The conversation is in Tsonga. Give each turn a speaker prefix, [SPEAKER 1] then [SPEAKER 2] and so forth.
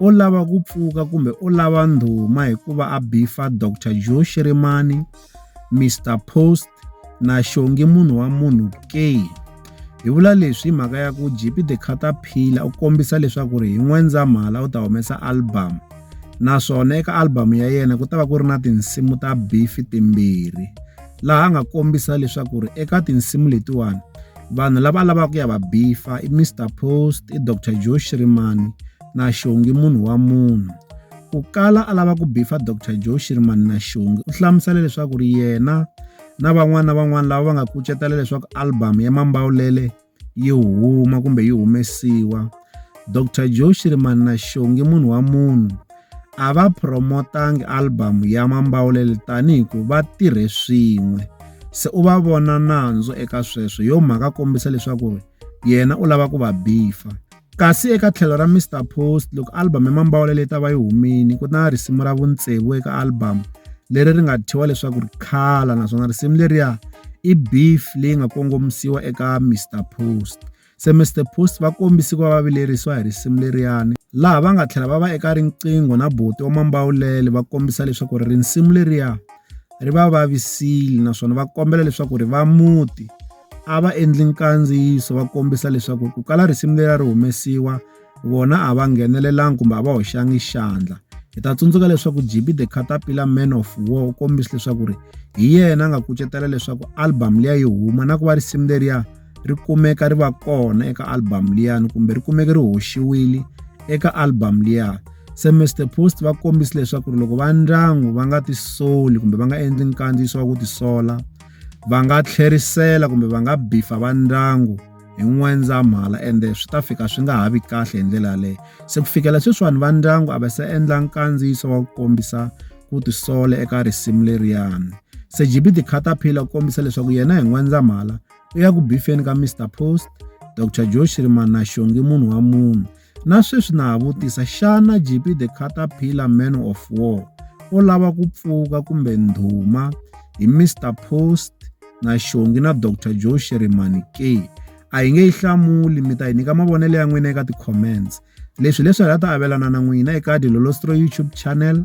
[SPEAKER 1] o lava ku pfuka kumbe o lava ndhuma hi ku va a bifa Doctor Joe Shirimani, Mister Post na Xongi munhu wa munhu ke. Hi vula leswi hi mhaka ya ku JP The Caterpillar u kombisa leswaku ri hi N'wendzamhala u ta humesa album naswona eka album ya yena ku ta va ku ri na tinsimu ta bifi timbirhi laha a nga kombisa leswaku ri eka tinsimu letiwani vanhu lava lavaka ku ya va bifa i mr post i dr joe shirimani na xongi munhu wa munhu ku kala a lava ku bifa dr joe shirimani na xongi u hlamusela leswaku ri yena na van'wana na van'wana lava va nga kucetela leswaku album ya mambawulele yi huma kumbe yi humesiwa dr joe shirimani na xongi munhu wa munhu a va promotangi album ya Mambawulele tani hi ku va tirhe swin'we se u va vona nandzu eka sweswo hi yo mhaka a kombisa leswaku ri yena u lava ku va bifa kasi eka tlhelo ra Mister Post loko album ya Mambawulele yi ta va yi humile ku na risimu ra vutsevu eka album leri ri nga thyiwa leswaku ri khala naswona risimu leriya i beef leyi nga kongomisiwa eka Mister Post. Semester Post va kombise ku va va vilerisiwa hi risimu leriyani laha va nga tlhela va va eka riqingho na buti wa Mambawulele va kombisa leswaku ri risimu leriya ri va vavisile naswona va kombela leswaku ri va muti a va endli nkandziyiso va kombisa leswaku ku kala risimu leriya ri humesiwa vona a va nghenelelanga kumbe a va hoxanga xandla. Hi ta tsundzuka leswaku JB The Caterpillar Man of War u kombise leswaku ri hi yena a nga kucetela leswaku album liya yi huma na ku va risimu leriya ri kumeka ri va kona eka album liyani kumbe ri kumeke ri hoxiwile eka album liya. Se Mister Post va kombise leswaku ri loko va ndyangu va nga tisoli kumbe va nga endli nkandziyiso wa ku tisola va nga tlherisela kumbe va nga beef-a va ndyangu. hi N'wendzamhala ende swi ta fika swi nga ha vi kahle hi ndlela yaleyo. Se ku fikela sweswiwani va ndyangu a va se endla nkandziyiso wa ku kombisa ku tisola eka risimu leriyani. Se JB the Caterpillar u kombisa leswaku yena hi N'wendzamhala u ya ku bifeni ka Mister Post, Doctor Joe Shirimani na Xongi munhu wa munhu. Na sweswi na ha vutisa, xana JP the Caterpillar Man of War o lava ku pfuka kumbe ndhuma hi Mr Post na Xongi na Dr Joe Shirimani ke? A hi nge yi hlamuli, mi ta hi nyika mavonelo ya n'wina eka ti-comments. Leswi hileswi hi nga ta avelana na n'wina eka Dilolostroy YouTube channel.